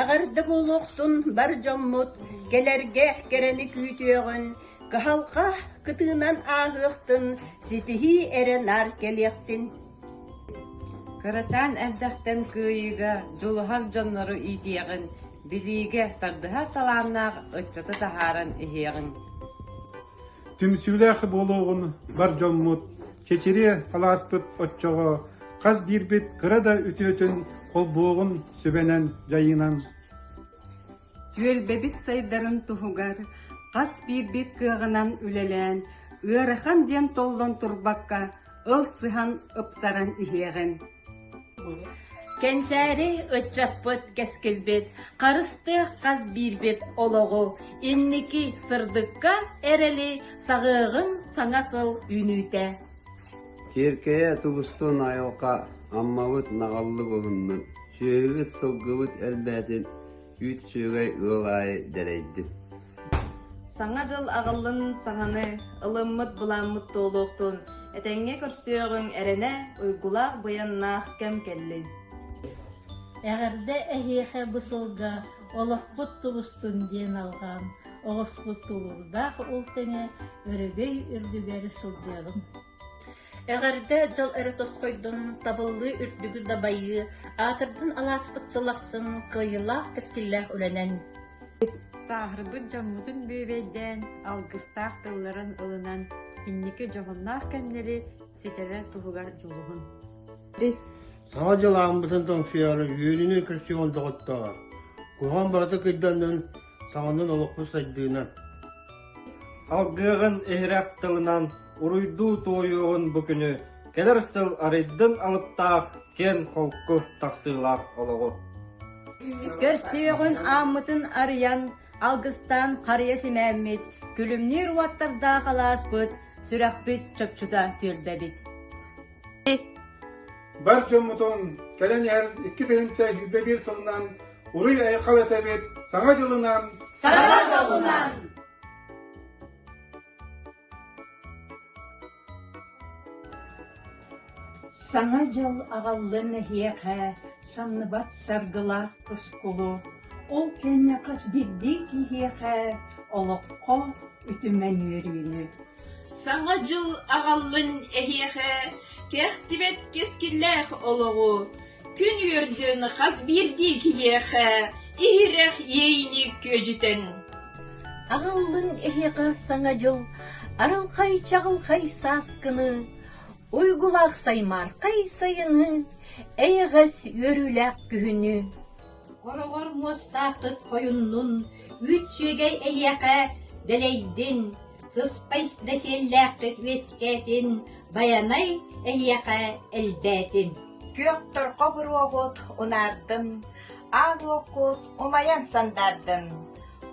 Эҕэрдэ буолуохтун бар дьоммут, кэлэргэ кэрэни күүтүөҕүн, кыһалҕа кытыынан ааһыахтын, ситиһии эрэ наар кэлиэхтин. Кырачаан эрдэхтэн кыайыыга дьулуһар дьоннору иитиэҕин, билиигэ тардыһар талааннаах ыччаты таһааран иһиэҕиҥ. Түмсүүлээх буолуоҕун бар дьоммут, чэчириэ алааспыт оччоҕо хас биирбит кыра да үтүөтүн холбуоҕун сүбэнэн дьайыынан түөлбэбит сайдарын туһугар хас биирбит кыаҕынан үлэлээн ыарахан диэн толлон турбакка ыл сыһан ыпсаран иһиэҕин Кэнчээри ыччаппыт кэскилбит, харыстыах хас биирбит олоҕу инники сырдыкка эрэли саҕыаҕын саҥа сыл үүнүүтэ. Киэркэйэ тубустун айылҕа, аммабыт наҕыллык уһуннун, сүөһүбүт сылгыбыт элбээтин, Үүт сүөгэй ыал аайы дэлэйдим Саҥа дьыл аҕаллын саҥаны, ылыммыт былааммыт туолуохтун, этэҥҥэ көрсүөҕүҥ эрэнэ, уйгулаах быйаннаах кэм кэллин. Эҕэрдэ эһиэхэ бу сылга олохпут тубустун диэн алҕаан оҕуспут тулуурдаах ол тэҥэ өрөгөй үрдүгэр сылдьыаҕын. Эҕэрдэ дьол эрэ тосхойдун, табыллыы үрдүгү дабайыы, аатырдын алааспыт сыл ахсын кыайыылаах кэскиллээх үлэнэн! Сааһырбыт дьоммутун бүөбэйдээн, алгыстаах тылларын ылынан, инники дьоһуннаах кэмнэри ситэрэр туһугар дьулуһун! Саҥа дьыл ааммытын тоҥсуйаары үөнүнү көрсүөҕүн доҕоттоор! Куһаҕан барыта кыйданнын, саҕанан олохпу сайдыынан, алгыаҕын иһирэх тылынан уруйдуу туойуоҕун бу күнү кэлэр сыл арыйдын алыптаах киэн холку тахсыылаах олоҕу. Көрсүөҕүн ааммытын арыйан, алгыстаан харыйа симээммит, күлүмнүүр уоттардаах алааспыт, сүрэхпит чопчута түөлбэбит. Бар дьоммутун, кэлэн иһэр икки тыһыынча сүүрбэ биир сылынан уруй айхал этэбит саҥа дьылынан саҥа дьылынан Саҥа дьыл аҕаллын эһиэхэ самныбат саргылаах тускулу, ол кэннэ хас биирдии киһиэхэ олоххо үтүмэн үөрүүнү Саҥа дьыл аҕаллын эһиэхэ, кэхтибэт кэскиллээх олоҕу, күн үөрдүн хас биирдии киһиэхэ, иһирэх иэйиини күөдьүтэн! Аҕаллын эһиэхэ саҥа дьыл арылхай чаҕылхай сааскыны, уйгулаах саймаархай сайыны, эйэҕэс үөрүүлээх күһүнү! Хороҕор муостааххыт хойуннун, үүт сүөгэй эһиэхэ дэлэйдин, сыспай дэсиэллээххит үөскээтин, байанай эһиэхэ элбээтин. Күөхтэр хобуруогут унаардын, аал уоккут умайан сандаардын.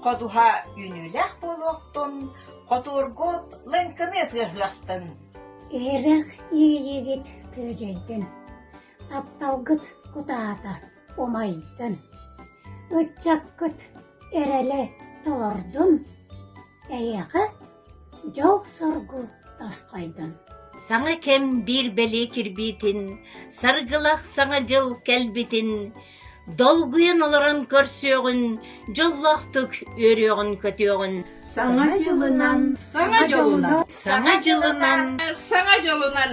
Ходуһа үүнүүлээх буолуохтун, хотуургут лыҥкыны тыаһыахтын. Эһирэх иэйиигит күөдьэйдин, апталгыт кутаата. умайдын, ыччаккыт эрэлэ толордун, эйиэхэ дьол-соргу тосхойдун. Саҥа кэм биир бэлиэ кирбиитин, саргылах саҥа дьыл кэлбитин, долгуйан олорон көрсүөҕүн, дьоллоохтук үөрүөҕүн-көтүөҕүн. Саҥа дьылынан, саҥа дьылынан, саҥа дьылынан, саҥа дьылынан.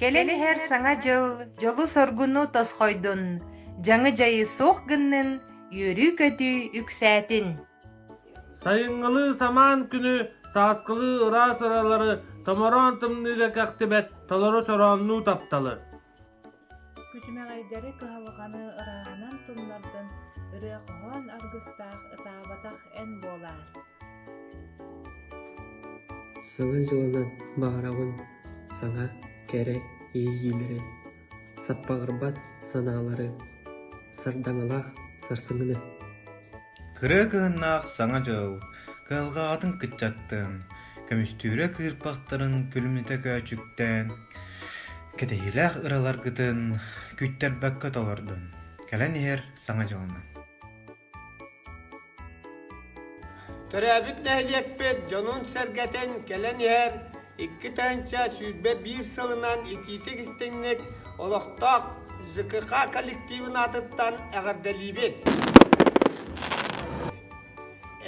Кэлэн иһэр Саҥа дьыл дьолу-соргуну тосхойдун, дьаҥы дьайыы суох гыннын, үөрүү-көтүү үксээтин! Сайыҥҥылыы самаан күнү сааскылыы ыраас ыралары томороон тымныыга кэхтибэт толору чорооннуу тапталы күчүмэҕэйдэри кыһалҕаны ырааһынан тумнардан ырыа хоһоон аргыстаах ытаабатах эн буолаар сылын дьылынан баҕарабын саҥа кэрэ иэйиилэри Саппаҕырбат санаалары, сардаҥалаах сарсыҥҥыны. Кыра кыһыннаах саҥа дьыл, кыһалҕаҕытын кыччаттыҥ, көмүстүүрэ кыырпахтарын күлүмнэтэ көөчүктээн, кэтэһиилээх ыраларгытын күүттэрбэккэ толордун. Кэлэн иһэр саҥа дьылынан. Төрөөбүт нэһилиэкпит дьонун-сэргэтин кэлэн иһэр икки тыһыынча сүүрбэ биир сылынан итиитик-истиҥник олохтоох ЖКХ коллективын аатыттан эҕэрдэлиибит!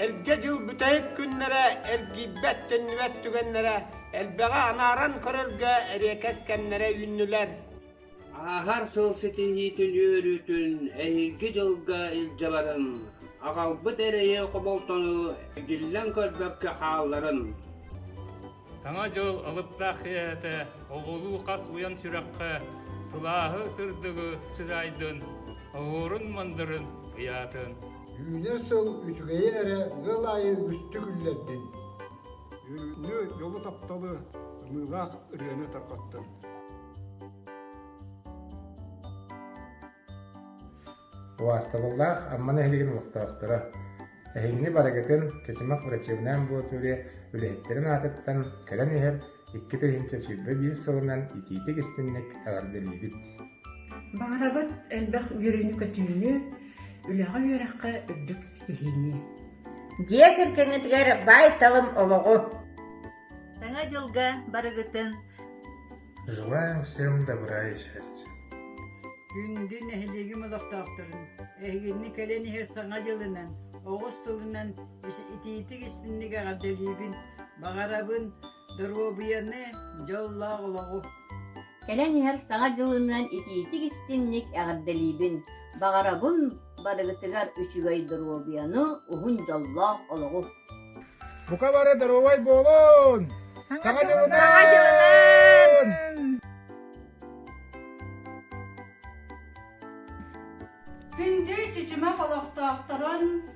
Эргэ дьыл бүтэһик күннэрэ эргийбэт-төннүбэт түгэннэрэ элбэҕи анааран көрөргө эриэкэс кэмнэрэ үүннүлэр. Ааһар сыл ситиһиитин үөрүүтүн эһиги дьылга илдьэ баран, аҕалбыт эрэйи хомолтону игиллэн көрбөккө хаалларын. Саҥа дьыл алыптаах кэйээтэ оҕолуу хас уйан сүрэххэ сылааһы сырдыгы сыһаайдын, оһуорун мандырын ыйаатын. Үүнэр сыл үчүгэйи эрэ ыал аайы үгүстүк үллэрдин. Үүнүү дьолу тапталы, ымыылаах ырыаны тарҕаттын. Убаастабыллаах Амма нэһилигин олохтоохторо! Эһиҥҥи барыгытын Чычымах врачебная амбулатория үлэһиттэрин аатыттан кэлэн иһэр икки тыһыынча сүүрбэ биир сылынан итиитик-истинник эҕэрдэлиибит! Баҕарабыт элбэх үөрүүнү-көтүүнү, үлэҕэ-үөрэххэ үрдүк ситиһиини! Дьиэ кэргэҥҥитигэр баайталым олоҕу! Саҥа дьылга барыгытын Желаем всем добра и счастья. Күндү нэһилиэгим олохтоохторун, эһигини кэлэн иһэр саҥа дьылынан, оҕус тылынан итиитик истинник эҕэрдэлиибин, баҕарабын доруобуйаны, дьоллоох олоҕу. Кэлэн иһэр Саҥа дьылыныан итиитик-истинник эҕэрдэлиибин! Баҕарабын барыгытыгар үчүгэй доруобуйаны, уһун дьоллоох олоҕу! Бука бары доруобай буолун! Саҥа дьылынан! Күндү чычымах олохтоохторун